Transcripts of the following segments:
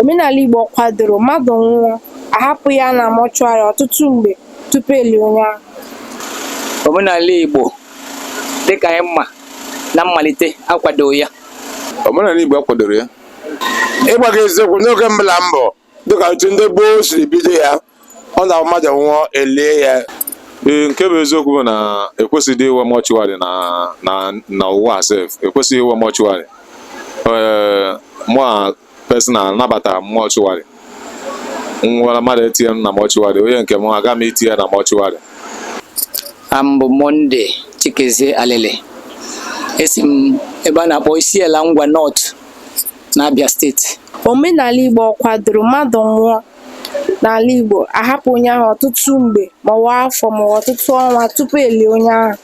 Omenala Igbo kwadoro mmadụ nwụọ, a hapụ ya na mọchụarị ọtụtụ mgbe tupu e lie onye ahụ. Omenala Igbo dịka anyị ma na mmalite akwadoghị ya. Omenala Igbo akwadoro ya. Ịgwa gị eziokwu, n'oge mbụ la mbụ dịka otu ndị gboo siri bido ya ọ na mmadụ nwụọ e lie ya ee nke bụ eziokwu bụ na ekwesịghị inwe mọchụwarị na na na ụwa sef ekwesịghị inwe mọchụwarị ee mụa personal nabata mọchụwarị nwara mmadụ etinye m na mọchụwarị onye nke m aga m itinye ya na mọchụwarị a m bụ Monday chikezie alele esi m ebe a na-akpọ isiala ngwa north n'Abia steeti omenala Igbo ọ kwadoro mmadụ nwụọ n'ala Igbo a hapụ onye ahụ ọtụtụ mgbe maọbụ afọ maọbụ ọtụtụ ọnwa tupu e lie onye ahụ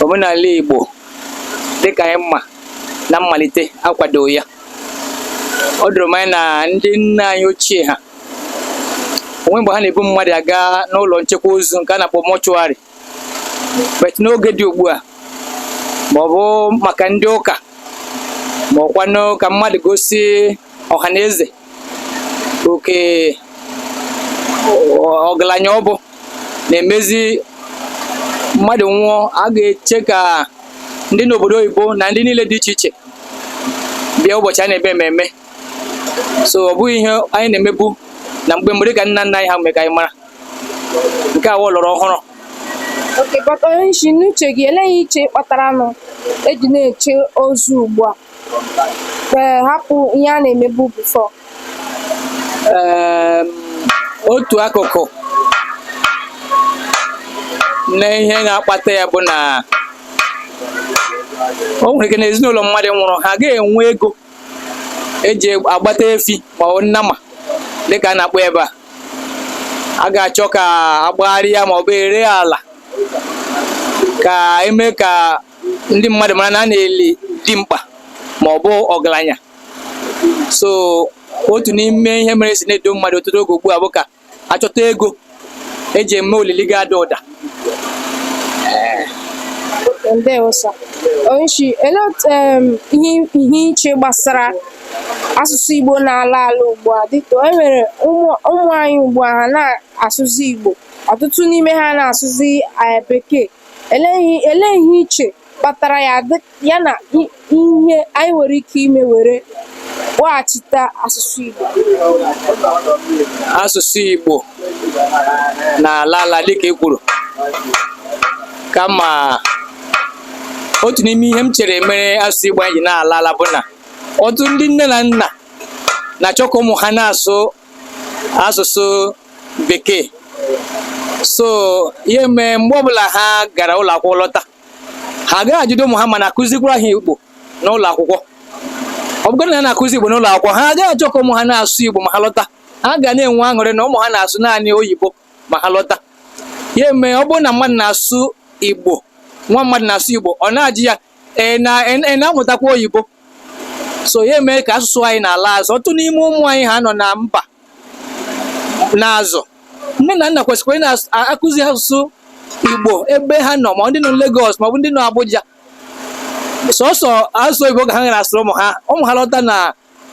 omenala Igbo dịka anyị ma na mmalite akwadoghị ya o doro m anya na ndị nna anyị ochie ha o nweghị mgbe ha na-ebu mmadụ aga n'ụlọ nchekwa ozu nke a na-akpọ mọchụarị but n'oge dị ugbu a ma ọ bụ maka ndị ụka ma ọkwanụ ka mmadụ gosi ọha na eze oke ọgaranya ọ bụ na-emezi mmadụ nwụọ a ga-eche ka ndị n'obodo oyibo na ndị niile dị iche iche bịa ụbọchị a na-eme ememme so ọ bụghị ihe anyị na-emebu na mgbe mbụ dịka nna nna anyị ha mere ka anyị mara nke a wụ ọlọrọ ọhụrụ okay but onye isi n'uche gị ele ihe i che kpataranụ e ji na-eche ozu ugbu a ee hapụ ihe a na-emebu before Eem, otu akụkụ na ihe na-akpata ya bụ na o nwere ike na ezinụlọ mmadụ nwụrụ ha agaghị enwe ego eji agbata efi ma ọ nnama dịka a na-akpọ ebe a a ga-achọ ka a gbagharịa ma ọ bụ e ree ala ka e mee ka ndị mmadụ mara na a na-eli dimkpa ma ọ bụ ọgaranya so otu n'ime ihe mere si na-edo mmadụ ọtụtụ oge ugbu a bụ ka achọta ego eji eme olili ga-ada ụda ndewo sir onyeisi ele otu em, ihe ihe i che gbasara asụsụ igbo na-ala ala ugbu a dịka e nwere ụmụ ụmụ anyị ugbu a ha na-asụzi igbo ọtụtụ n'ime ha na-asụzi eh, bekee ele ihe ele ihe i che kpatara ya ya na ihe anyị nwere ike ime were kpọghachite asụsụ Igbo asụsụ Igbo na-ala ala dịka e kwuru kama otu n'ime ihe m chere mere asụsụ Igbo anyị ji na-ala ala bụ na ọtụtụ ndị nne na nna na-achọ ka ụmụ ha na-asụ asụsụ bekee so ihe mee mgbe ọbụla ha gara ụlọ akwụkwọ lọta ha agaghị ajụdị ụmụ ha ma a na-akụzikwara ha igbo n'ụlọ akwụkwọ ọ bụrụ na ha na-akụzi igbo n'ụlọ akwụkwọ ha agaghị achọ ka ụmụ ha na-asụ igbo ma ha lọta ha ga na-enwe aṅụrị na ụmụ ha na-asụ naanị oyibo ma ha lọta ya mee ọ bụrụ na mmadụ na-asụ igbo nwa mmadụ na-asụ igbo ọ na-ajụ ya ị na-amụtakwa oyibo so ya eme ka asụsụ anyị na-ala azụ ọtụtụ n'ime ụmụ anyị ha nọ na mba ọzọ nne na nna kwesịkwara ị na-akụzi asụsụ igbo ebe ha nọ ma ndị nọ Lagos maọbụ ndị nọ Abuja sọsọ asụsụ oyibo ka ha ga na-asụrụ ụmụ ha ụmụ ha lọta na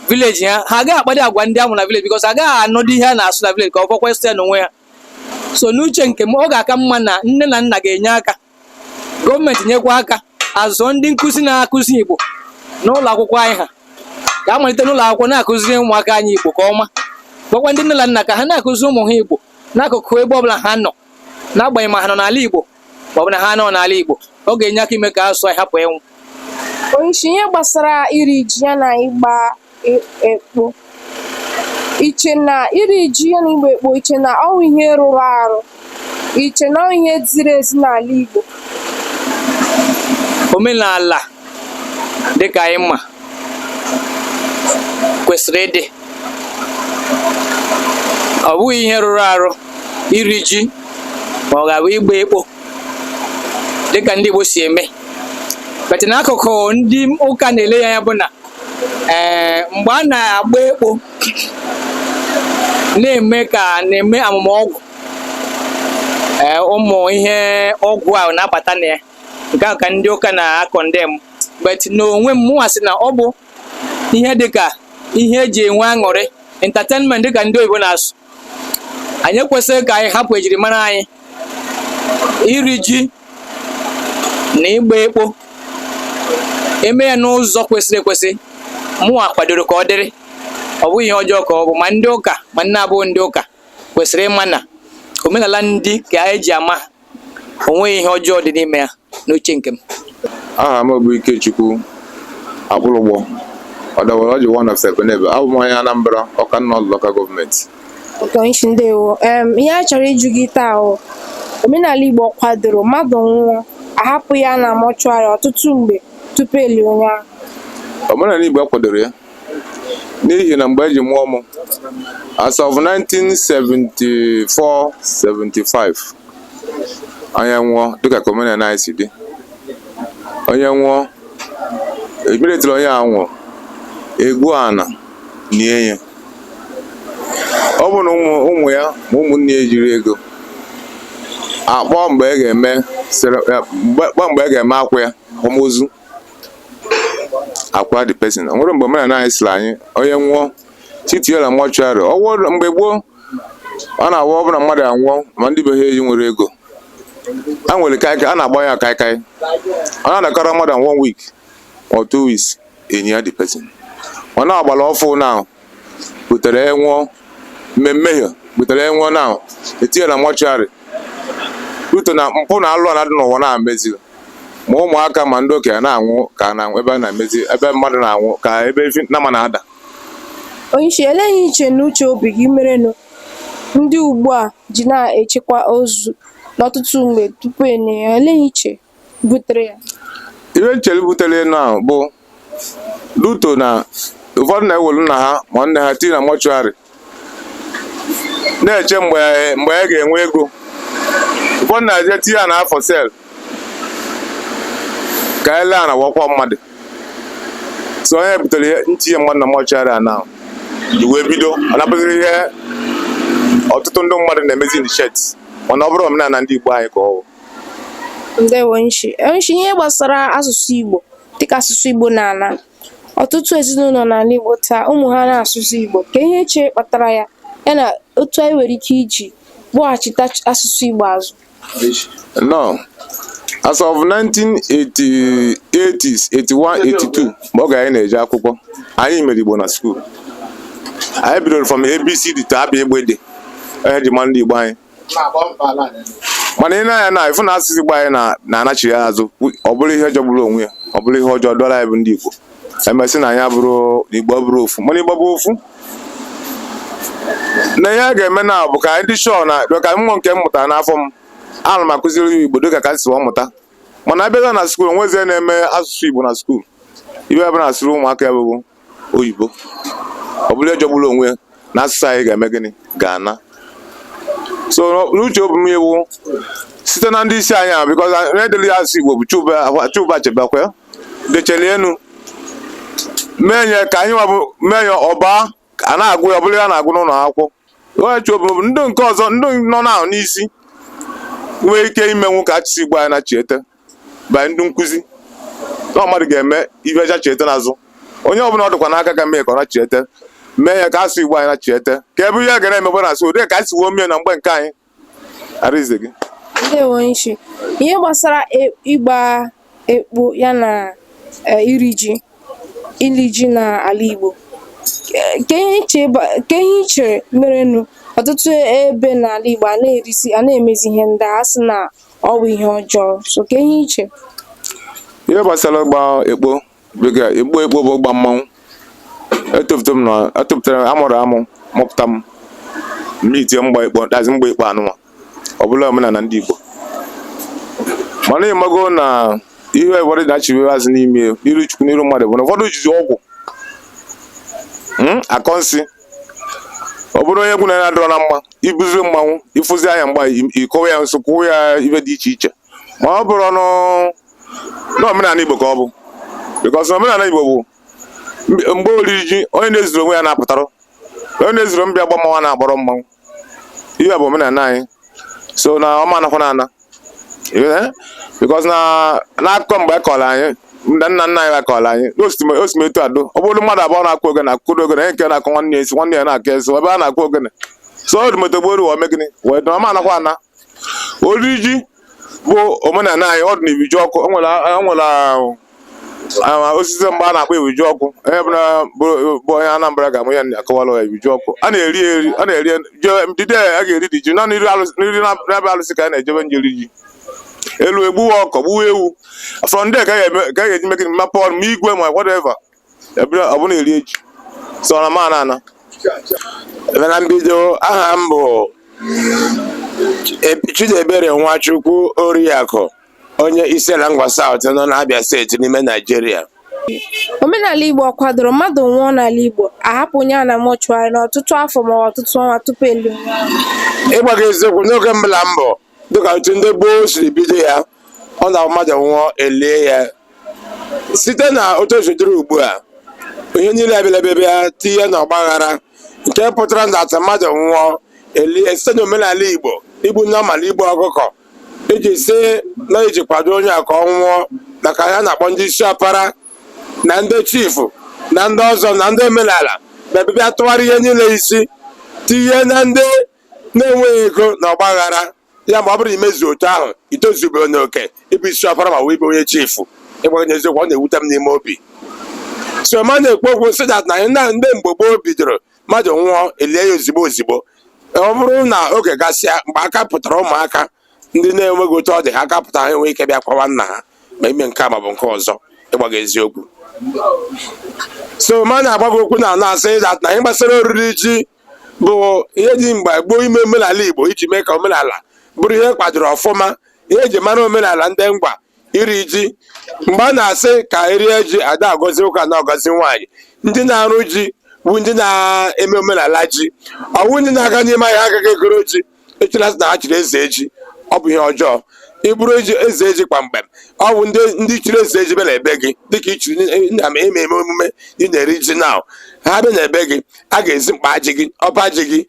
village ha ha agaghị akpadị agwa ndị a mụ na village because agaghị anụdị ihe a na-asụ na village ka ọ fọkwa ịsụ ya n'onwe ha so n'uche nke m ọ ga-aka mma na nne na nna ga-enye aka gọọmenti nyekwa aka zụọ ndị nkụzi na-akụzi Igbo n'ụlọ akwụkwọ anyị ha ka a malite n'ụlọ akwụkwọ na-akụziri ụmụaka anyị Igbo ka ọma gwakwa ndị nne na nna ka ha na-akụzi ụmụ ha Igbo n'akụkụ ebe ọbụla ha nọ n'agbanyeghị ma ha nọ n'ala Igbo ma ọ bụ na ha anọghị n'ala Igbo ọ ga-enye aka ime ka asụsụ anyị hapụ ịnwụ onyeisi ihe gbasara iri ji ya na ịgba ekpo i che na iri ji ya na ịgba ekpo i che na ọ wụ ihe rụrụ arụ i che na ọ wụ ihe ziri ezi n'ala igbo omenala dịka anyị ma kwesịrị ịdị ọ bụghị ihe rụrụ arụ iri ji ma ọ ga-abụ ịgba ekpo dịka ndị Igbo si eme but n'akụkụ ndị ụka na-ele ya anya bụ na ee mgbe a na-agba ekpo na-eme ka na-eme amụma ọgwụ ee ụmụ ihe ọgwụ ahụ na-abata na ya nke ahụ ka ndị ụka na-condemn but n'onwe m mụnwa sị na ọ bụ ihe dịka ihe e ji enwe aṅụrị entertainment dịka ndị oyibo na-asụ anyị ekwesịghị ka anyị hapụ ejirimara anyị iri ji na ịgba ekpo e mee ya n'ụzọ kwesịrị ekwesị mụnwa kwadoro ka ọ dịrị ọ bụghị ihe ọjọọ ka ọ bụ ma ndị ụka ma ndị na-abụghị ndị ụka kwesịrị ịma na omenala ndị ka a na-eji ama o nweghị ihe ọjọọ dị n'ime ya n'uche nke m aha m bụ Ikechukwu Akpụlụgbọ ọdawara ọjị one of Ebenebe abụ m onye Anambra Ọka North local gọọmenti Onyeishi ndewo em ihe a chọrọ ịjụ gị taa o omenala Igbo ọ kwadoro mmadụ nwụọ a hapụ ya na mọchụarị ọtụtụ mgbe tupu e lie onye ahụ omenala Igbo akwadoro ya n'ihi na mgbe e ji mụọ m as of 1974 75 onye nwụọ dịka ka omenala anyị si dị onye nwụọ emeretụrụ onye a nwụrụ e gwuo ana nie ya ọ bụrụ na ụmụ ya ma ụmụnne ya ejiri ego a kpọọ mgbe a ga-eme akwa ya akwamozu a kwaa the person o nwerọ mgbe omenala anyị sịrị anyị onye nwụọ tii ya na mọchụarị ọ wụ mgbe gboo ọ na-awụ ọ bụ na mmadụ anwụọ ma ndị be ha eji nwere ego e nwere kaikai a na-agba ya kaikai ọ na-adakọrọ mmadụ one week or two weeks e nie ya the person ọ na-agbara ọfụ na butere enwụọ mme mmehie butere enwụọ na-etinye na mọchụarị due to na mpụ na alụ a na-adị n'ụwa na-emezi ma ụmụaka ma ndị okenye na-anwụ ka na ebe a na-emezi ebe mmadụ na-anwụ ka ebe efi nama na-ada onyeisi elee ihe i che na uche obi gị merenụ ndị ugbu a ji na-echekwa ozu n'ọtụtụ mgbe tupu e nie ya elee ihe i che butere ya ihe m chelu butere enu ahụ bụ due to na ụfọdụ na-ewelu nna ha ma nne ha tii na mọchụarị na-eche mgbe mgbe a ga-enwe ego ụfọdụ na-eje tii ana ha for sale ka e lee ana wee kwaa mmadụ so ọ ya butere ihe ntinye mmadụ na mọchụarị ahụ ji wee bido ọ na-abụzi ihe ọtụtụ ndị mmadụ na-emezi in short mana ọ bụrọ omenala ndị Igbo anyị ka ọ bụ Ndewo onyeishi. Onyeishi ihe gbasara asụsụ Igbo dịka asụsụ Igbo na-ala. Ọtụtụ ezinụlọ n'ala Igbo taa ụmụ ha anaghị asụzi Igbo. Kee ihe i che kpatara ya ya na otu anyị nwere ike iji kpọghachita asụsụ Igbo azụ. Now, as of 1980s, 81, 82 mgbe oge anyị na-eje akwụkwọ anyị mere Igbo na skuul. Anyị bidoro from ABCD to A B GB D. Ọ ya e ji ma ndị Igbo anyị. mana i nee anya na ịfụ na asụsụ Igbo anyị na-anachigha azụ ọ bụrụ ihe jọgburu onwe ya ọ bụrụ ihe ọjọọ dọla anyị bụ ndị Igbo emesị na anyị abụrụ Igbo bụrụ ofu mana Igbo bụ ofu na ihe a ga-eme na bụ ka anyị dị sure na ka nwa nke m mụtara n'afọ m ana m akụziri ya Igbo dịka ka m si mụta mana a bịazi na skuul nwezie na-eme asụsụ Igbo na skuul ibe ebe na-asịrị ụmụaka ya bụbụ oyibo ọ bụrụ ejogburu onwe ya na asụsụ anyị ga-eme gịnị ga-ana so n'uche obi m iwu site na ndị isi anyị ahụ bikọz na-edeli ya asụsụ igbo bụ chinua achebe kwe decheli enu mee nye ka anyị nwabụ mee ya ọba a na-agụ ya ọ bụrụ ihe a na-agụ n'ụlọ akwụkwọ n'uche obi m bụ ndị nke ọzọ ndị nọ n'ahụ n'isi nwee ike imenwu ka asụsụ igbo anyị nachiete ma ndị nkụzi na mmadụ ga-eme ihe a chiete n'azụ onye ọbụla ọ dịkwa n'aka ka e mee ka ọ nachiete mee ya ka asụsụ igbo anyị nachiete ka ebe ihe ga na-emekwa na asụ ụdị ka anyị si wee mee na mgbe nke anyị arize gị ndewo onyeisi ihe gbasara e- ịgba ekpo ya na e, iri ji ili ji n'ala Igbo Ke- ke ihe i che ba- ke ihe i chere merenụ ọtụtụ ebe n'ala Igbo a na-erizi a na-emezi ihe ndị a sị na ọ bụ ihe ọjọọ so kee ihe i che ihe gbasara ịgba ekpo dịka ekpo ekpo bụ ịgba mmanwụ etopụta m na etopụtara m amụrụ amụ mụpụta m mgbe itie mgba ekpo dazi mgba ekpo anụnwa ọ bụ na omenala ndị Igbo mana ị mago na ihe ụfọdụ na-achịwe azụ n'ime iru chukwu n'iru mmadụ bụ na ụfọdụ jizi ọgwụ mm, akọ nsị ọ bụrụ onye gị na ya adịrọ na mma i buziri mmanwụ ị fụzi ya na mgba ị kọwa ya nsị kọọ ya ihe dị iche iche ma ọ bụrụ n'omenala Igbo ka ọ bụ bikọs omenala Igbo bụ mgbe oriri ji onye na-ezuru onwe ya na-apụtara onye na-ezuru mbịa gba mmanwụ na-agbọrọ mmanwụ ihe bụ omenala anyị so na ọ ma anakwanụ ana because na n'akụkọ mgbe a kọrọ anyị ndị nna nna anyị akọrọ anyị n'osimetu adụ ọ bụrụ mmadụ abụọ na-akụ ogene akụkụrụ ogene nke na-akụ nwanne ya esi nwanne ya na-akụ esi ebe a na-akụ ogene so o dị motogboro wee mee gịnị wee dụ ọ ma anakwa ana ori ji bụ omenala anyị ọ dị na ifejiọkụ o nwere o nwere ah, osisi mgbe a na-akpọ ifejiọkụ onye bụla bụ bụ onye Anambra ga-ama ya akọwara ya ifejiọkụ a na-eri ya eri a na-eri ya je- the day a ga-eri dị ji naanị iri alụsị n'iri na- na-abịa alụsị ka a na-ejebe njeri ji e luo egbuwa ọkụkọ gbuwa ewu from there ka a ga-eme- ka a ga-eji meke mma pọn ma igwe ma whatever ever ọ bụ na iri ji so ọ ma ana ana ebe na mbido aha m bụ Eb- Chidiebere Nwachukwu Oriakụ onye Isiala Ngwa South nọ n'Abia steeti n'ime Naijiria Omenala Igbo ọ kwadoro mmadụ nwụọ n'ala Igbo a hapụ onye a na mọchụarị n'ọtụtụ afọ ma ọ bụ ọtụtụ ọnwa tupu e lie. ịgwa gị eziokwu n'oge mbụ na mbụ dịka otu ndị gboo siri bido ya ọ na mmadụ nwụọ e lie ya site na otu o si dịrị ugbu a ihe niile abịala bịa tinye na ọgbaghara nke pụtara na dat mmadụ nwụọ e lie site na omenala igbo igbu nnama la igbu ọkụkọ iji sị na e ji kwado onye a ka ọ nwụọ maka ya na-akpọ ndị isi ọpara na ndị chifu na ndị ọzọ na ndị omenala bịa bịa tụgharị ihe niile isi tinye na ndị na-enweghị ego na ọgbaghara ya ma ọ bụrụ na imezu otu ahụ i tozubeghị n'oke ịbụ isi ọfara ma wee bụ onye chifu ịgwa gị eziokwu ọ na-ewute m n'ime obi so ma na-ekwu okwu sị dat na na ndị mgbe gboo bidoro mmadụ nwụọ e lie ya ozigbo ozigbo ọ bụrụ na oge gasịa mgbe aka pụtara ụmụaka ndị na-enweghị otu ọ dị ha aka pụta ha enwee ike bịa kwawa nna ha ma ime nke a ma ọ bụ nke ọzọ ịgwa gị eziokwu so ma na-agwa gị okwu na na-asị dat na ihe gbasara oriri ji bụ ihe dị mgbe gboo ime omenala Igbo iji mee ka omenala bụrụ ihe kwadoro ọfụma ihe e ji mara omenala ndị ngwa iri ji mgbe a na-asị ka e rie ji a na-agọzi nwoke a na-agọzi nwaanyị ndị na-arụ ji bụ ndị na-eme omenala ji ọ wụ ndị na-aga n'ime ahịa aga ga egoro ji echere sị na ha chiri eze ji ọ bụ ihe ọjọọ ị bụrụ eze ji kpamkpam ọ wụ ndị chiri eze ji bịa na ebe gị dịka i chiri na-eme eme omume ị na-eri ji na ha bịa na ebe gị a ga-ezi mkpa ji gị ọba ji gị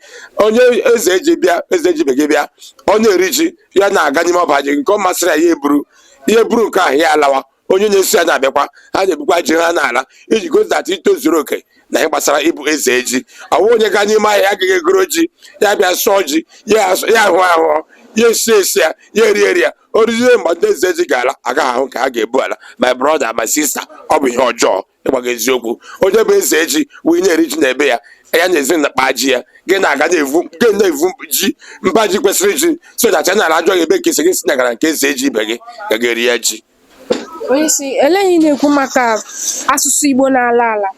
onye eze ji bịa eze ji ibe gị bịa ọ na-eri ji ya na-aga n'ime ọba ji gị nke ọ masịrị ya ya eburu ya eburu nke ahụ ya alawa onye na-eso ya na-abịakwa ha na-ebukwa ji ha na-ala iji gosi dat i tozuru oke na ihe gbasara ịbụ eze ji ọ wụ onye gaa n'ime ahịa ya aga egoro ji ya bịa sụọ ji ya asụ- ya ahụ ahụ ya esi esi ya ya eri eri ya o rizie mgbe ndị eze ji ga-ala agaghị ahụ nke ha ga-ebu ala my brother my sister ọ bụ ihe ọjọọ ịgwa gị eziokwu onye bụ eze ji wee na-eri ji na ebe ya ya na-ezi mkpa ji ya gị na-aga na-evu gị na-evu ji mba ji kwesịrị ji so dat ị na-ala a jụọ gị ebe ka i si gị sị na ị gara nke eze ji ibe gị ga ga-eri ya ji onyeisi olee ihe ị na-ekwu maka asụsụ igbo na-ala ala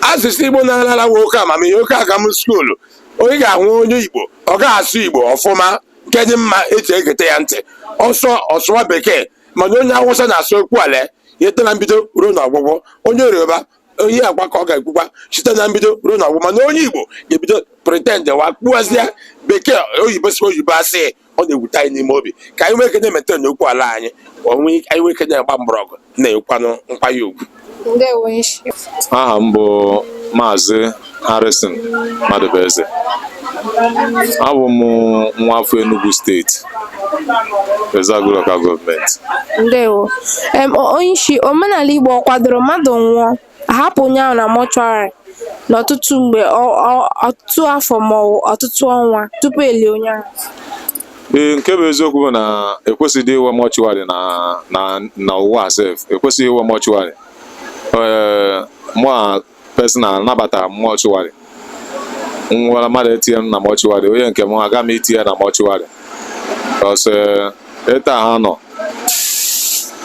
asụsụ igbo na-ala ala ọ wụ oke amamihe oke agam skuulu onye ga-ahụ onye igbo ọ ga-asụ igbo ọfụma nke dị mma e ji egete ya ntị ọ sụ- ọ sụwa bekee mana onye awụsa na-asụ okwu ala ya site na mbido ruo na ọgwụgwụ onye yoruba onye agwa ka ọ ga-ekwukwa site na mbido ruo na ọgwụgwụ mana onye igbo ga-ebido pretend wa kpụazịa bekee oyibo si oyibo asị ọ na-ewute anyị n'ime obi ka anyị nwee ike na-emaintain okwu ala anyị anyị nwee ike na-agba mgbọrọgwụ na-akwanye nkwanye ugwu aha m bụ maazị Harrison Madụbụeze abụ m nwa afọ Enugu steeti Ezeagu Local Gọọmenti ndewo onye isi omenala Igbo ọ kwadoro mmadụ nwụọ a hapụ onye ahụ na mọchụarị n'ọtụtụ mgbe ọtụtụ afọ ma ọ wụ ọtụtụ ọnwa tupu e lie onye ahụ ee nke bụ eziokwu bụ na ekwesịghị inwe mortuary na na na ụwa sef ekwesịghị inwe mortuary ee mụwa personal anabata m mortuary m nwere mmadụ etinye m na mortuary onye nke m aga m itinye na mortuary because ịta ha nọ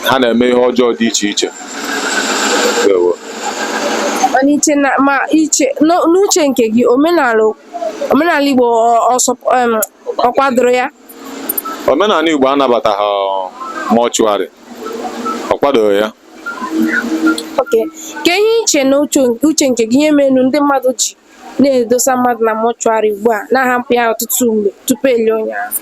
ha na-eme ihe ọjọọ dị iche iche Ndewo. Mana iche na ma iche n'o- n'uche nke gị omenala omenala Igbo ọ kwadoro ya omenala Igbo anabataghị mortuary ọ kwadoro ya okay kee ihe i che na uche nke gị ihe menụ ndị mmadụ ji na-edosa mmadụ na mortuary ugbu a na-ahapụ ya ọtụtụ mgbe tupu e lie onye ahụ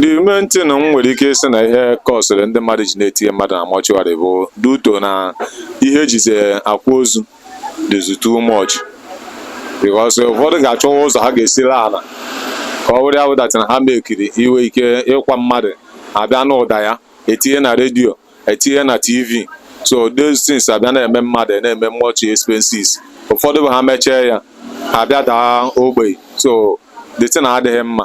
the main thing m nwere ike ịsị na ihe kọsịrị ndị mmadụ ji na-etinye mmadụ na mortuary bụ due to na ihe e jizi akwa ozu dịzi too much because ụfọdụ ga-achọwa ụzọ ha ga-esiri ala ka ọ wụrụ ya wụ that na ha mekiri inwe ike ịkwa mmadụ a bịa n'ụda ya etinye na redio etinye na tv so those things abịa na-eme mmadụ na-eme much expenses ụfọdụ bụ ha mechaa ya ha bịa daa ogbenye so the thing adịghị mma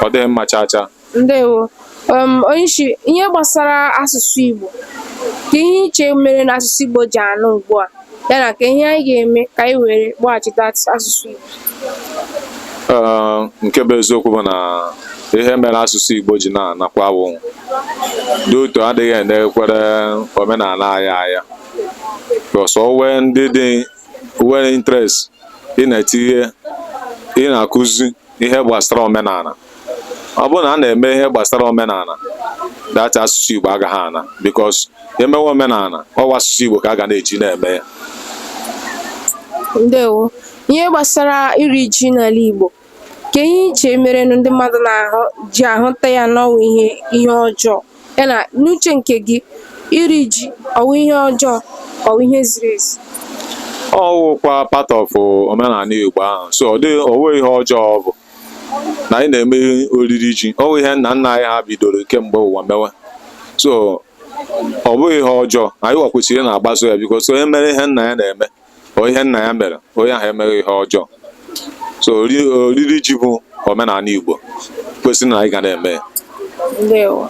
ọ dịghị mma chaa chaa ndewo um, onye isi ihe gbasara asụsụ Igbo kee ihe i che mere na asụsụ Igbo ji anwụ ugbu a ya na kee ihe anyị ga-eme ka anyị were gbaghachite asụsụ Igbo nke bụ eziokwu bụ na ihe mere asụsụ Igbo ji na-anakwa bụ due to adịghị enekwara omenala anyị anya because o nwe ndị dị nwere interest ị na-etinye ị na-akụzi ihe gbasara omenala ọ bụrụ na a na-eme ihe gbasara omenala that asụsụ Igbo agaghị ana because e mewe omenala ọ wụ asụsụ Igbo ka a ga na-eji na-eme ya ndewo ihe gbasara iri ji n'ala Igbo kee ihe i che mere ndị mmadụ na-ahụ ji ahụta ya na ọ wụ ihe ihe ọjọọ ya na n'uche nke gị iri ji ọ wụ ihe ọjọọ ka ọ wụ ihe ziri ezi ọ wụkwa part of omenala Igbo ahụ so ọ dịghị o nwe ihe ọjọọ ọ bụ na anyị na-eme oriri ji ọ bụ ihe nna nna anyị ha bidoro kemgbe ụwa mewe so ọ bụghị ihe ọjọọ anyịwa kwesịrị na-agbaso ya because onye mere ihe nna ya na-eme o ihe nna ya mere onye ahụ emeghị ihe ọjọọ so ori- oriri ji bụ omenala Igbo kwesịrị na anyị ga na-eme ya ndewo